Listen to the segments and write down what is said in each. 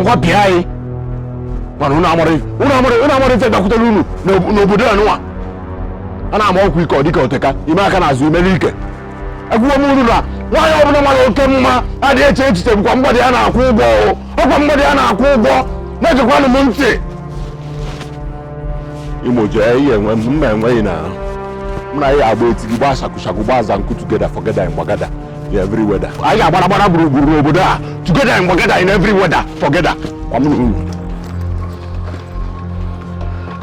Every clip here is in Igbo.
ngwa bịa anyị mana unu amara unu amara unu amara ife dakwutere unu n'obodo a nụwa a na-ama ọkwa ike ọ dịka oteka ime aka n'azụ imere ike agwụgwọ m unu na nwaanyị ọbụla mara oke mma adịghị eche echiche bụkwa mgbadị ya na-akwụ ụgwọ ọkwa mgbadị ya na-akwụ ụgwọ na-egekwanụ m ntị imo jee ihe enwe mma enweghị na mụ na ya agba etighi gbaa shakushaku gbaa zanku together forgether in gbagada every weather anyị ga-agbara gbara gburugburu n'obodo a together forgether in every weather forgether kwa mụ na unu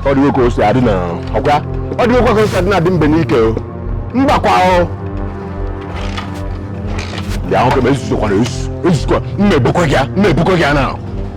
ọ dịghị ka o si adị na ọkwa ọ dịghị ka o si adị na adị mbe n'ike o mbakwa o bịa ahụ ka m ezuzokwara ezu ezuzokwa m na-ebukwa gị ya m na-ebukwa gị ya na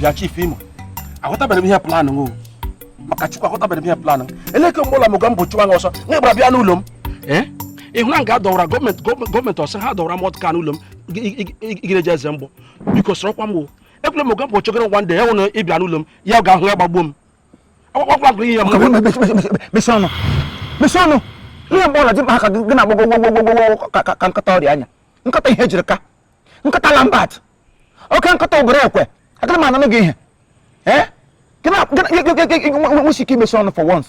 bịa chief imo aghọtabere m ihe plan maka chukwu aghọtabere m ihe plan eleke mgbọla mogambo chụwa gị ọsọ na ị gbara bịa n'ụlọ m eh? ị hụ na nga dọwara government ọ sọ ha dọwara armoured car n'ụlọ m gịreje eze mgbọ biko sọrọkwa m ekwele mogambo chụgara one day ya nụrụ ị bịa n'ụlọ m ya ga-ahụ ya gbagbuo m akwakwa gụrụ ihe mesi ọnụ mesi ọnụ ihe mgbe ọla dị mkpa ka gị na-agbọ gwogwogwogwo ka nkịta ọrịa anya nkịta ihe jiri ka nkịta lambert oke nkịta ụbụrụ ekwe agara m ananụ gị ihe ee gị na-agwa gị nwesi ike imesi ọnụ for once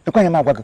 ekweghị m agwa gị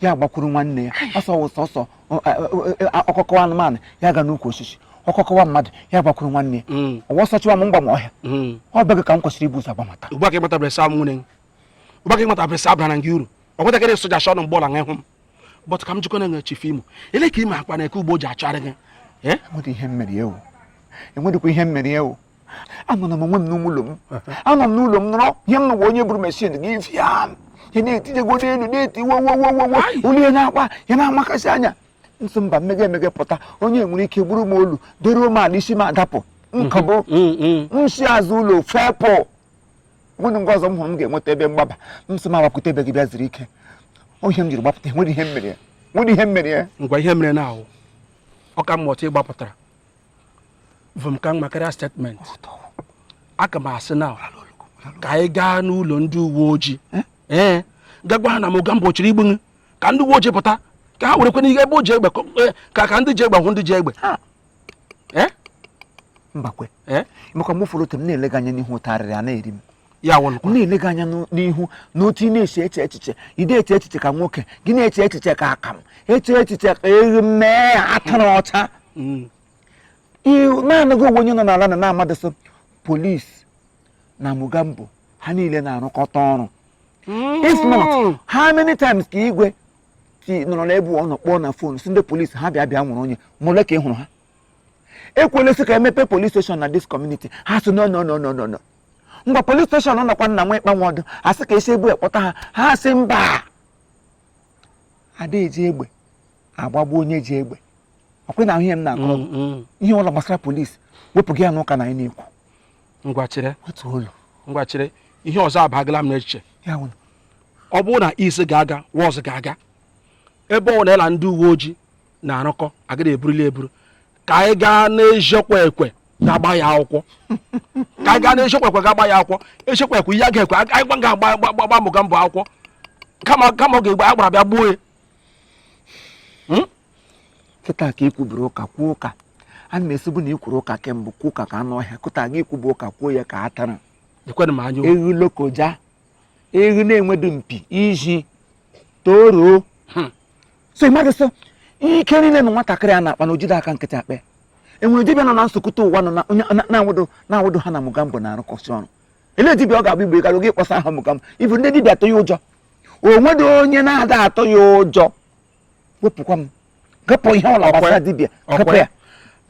ya gbakwuru nwanne ya ọsọ wụ sọsọ ọkọ kọwa anụmanụ ya ga n'ukwu osisi ọkọ kọwa mmadụ ya gbakwuru nwanne ya hmm. ọ wụ ọsọ chụwa m m gbaa ọhịa hmm. ọ be gị ka m kwesịrị ibu ụzọ agbamata ugbu a ka ị matabere sị nwanne ugbu a ka ị matabere sị abara m gị uru ọ nwetakịrị soja shọ nụ mgbọla ị hụ m but ka m jụkwanụ ee chief imo eleke i mekpa nwoke ugbo ji achọgharị gị eh? enweghị ihe m mere ya o enweghịkwa ihe m mere ya o anọ na m onwe m n'ụlọ m anọ m n'ụlọ m nọrọ ihe m nụwa onye buru machine gun bịa ya na-etijego n'elu na-eti wowowowowo olu ya na-akwa ya na-amakasị anya m sị mba m mega emega pụta onye nwere ike gburu m olu doruo m ala isi m adapụ nka bụ m si azụ ụlọ fepụ nweghị nga ọzọ m hụrụ m ga-enweta ebe mgbaba m sị m agbapụta ebe gị bịa zuru ike ọ ihe m jiri gbapụta nwere ihe m mere ya nwere ihe m mere ya ngwa ihe mere na ahụ ọka mmụta ị gbapụtara vum ka mma karịa statement aka m asị na ka anyị gaa n'ụlọ ndị uwe ojii eh? ee eh, gaa gwa ha na mogambo chọrọ igbu gị ka ndị uwe ojii pụta ka ha werekwa n'ihe ebe o ji egbe eh, ka ka ndị ji egbe hụ ndị ji egbe mbakwa maka ị fụrụ otu m na-ele gị anya n'ihu ụtarịrị a na-eri m ya wụlụkwa na-ele gị anya n'ihu na otu ị na-esi eche echiche ị de eche echiche ka nwoke gị na-eche echiche ka akam eche echiche ka eghu mee atụrụ ọcha mm. na-anaghị onwe onye nọ n'ala na na-amadị sị polisi na Mugambo ha niile na-arụkọta ọrụ mm. if not how many times ka igwe ti nọrọ n'ebe ọ nọ kpọọ na phone sị ndị polisi ha bịa bịa nwụrụ onye mụle ka ị hụrụ ha ekwule sị ka e mepe police station na this community ha sị no no no no no ngwa police station nọkwa nna nwa ịkpanwe ọdụ a sị ka e si ebe ahụ kpọta ha ha asị mba ada eji egbe agbagbu onye ji egbe ọ kwa ị na-ahụ ihe m na-akọ mm, mm. ihe ọla gbasara police wepụ gị ya n'ụka na anyị na-ekwu ngwa chere otu ọla ngwa chere ihe ọzọ abagala m n'echiche ọ bụrụ na isi ga-aga wọz ga-aga ebe ọ na-ela ndị uwe ojii na-arụkọ agaghị eburili eburu ka anyị gaa n'eziokwu ekwe ga-agba ya akwụkwọ ka anyị gaa n'eziokwu ekwe ga-agba ya akwụkwọ eziokwu ekwe ihe a ga-ekwe anyị gba ga-agba agba- agba Mugambo akwụkwọ kama kama ọ ga-egbe agbara bịa gbuo ya kịta ka i kwuburu ụka kwuo ụka a na-esibu na i kwuru ụka kemgbe kwuo ụka ka anụ ọhịa kụta gị ikwubu ụka kwuo ya ka atara ekwenụ m anya okwu. eghu lokoja eghu na-enwedu mpi ishi toro so ị madị sị ike niile na nwatakịrị a na-akpa na o jide aka nkịtị akpa enwere dibịa nọ na nsokọta ụwa nọ na onye na- na-awụdo na-awụdo ha na Mugambo na-arụkọsị ọrụ elee dibịa ọ ga-abụ igbe gara oge ịkpọsa aha Mugambo ibu ndị dibịa atụ ya ụjọ o nwedị onye na-ada atụ ya ụjọ wepụkwa m ghapụ ihe ọla gbasara dibịa ghapụ ya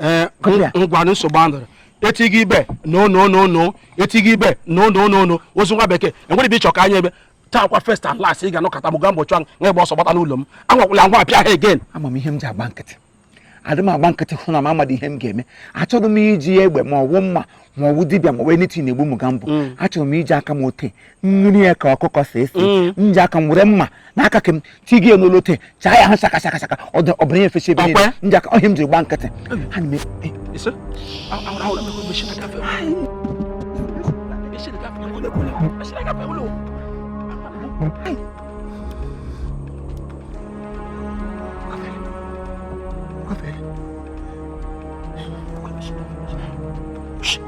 ee Kọpịa. ngwanụ nsogbu adịrọ e tigi ebe no no no no e tigi ebe no no no no ozu nwa bekee e nwere ebe ị chọ ka anyị ebe taakwa first and last ị ga-anọkata Mugambo chụwa ị gba ọsọ gbata n'ụlọ m anwakwụla anwa appear here again ama m ihe m ji agba nkịtị adị m agba nkịtị hụ na m amadị ihe m ga-eme achọrọ m iji egbe ma ọwụ mma ma ọwụ dibịa ma ọwụ anything egbu Mugambo mm. achọrọ m iji aka m ote nri ya ka ọkụkọ si esi mm. m ji aka m were mma n'aka ka m tigi ya n'olu te chaa ya ha shaka shaka shaka ọbara ya efesa ebe niile ndị aka ihe m jiri gba nkịtị ha na Hey! Shh.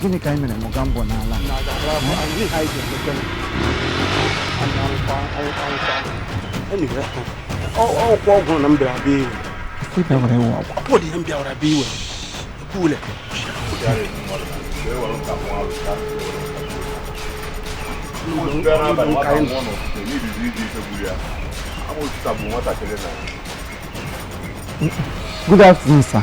Gịnị ka anyị mere Mugambo n'ala? ọ kwa ọgwụ na m bịara bịa iwe Ị bịara iwe ọgwụ. ọ dị ihe m bịara bịa iwe ekwule Good afternoon, sir.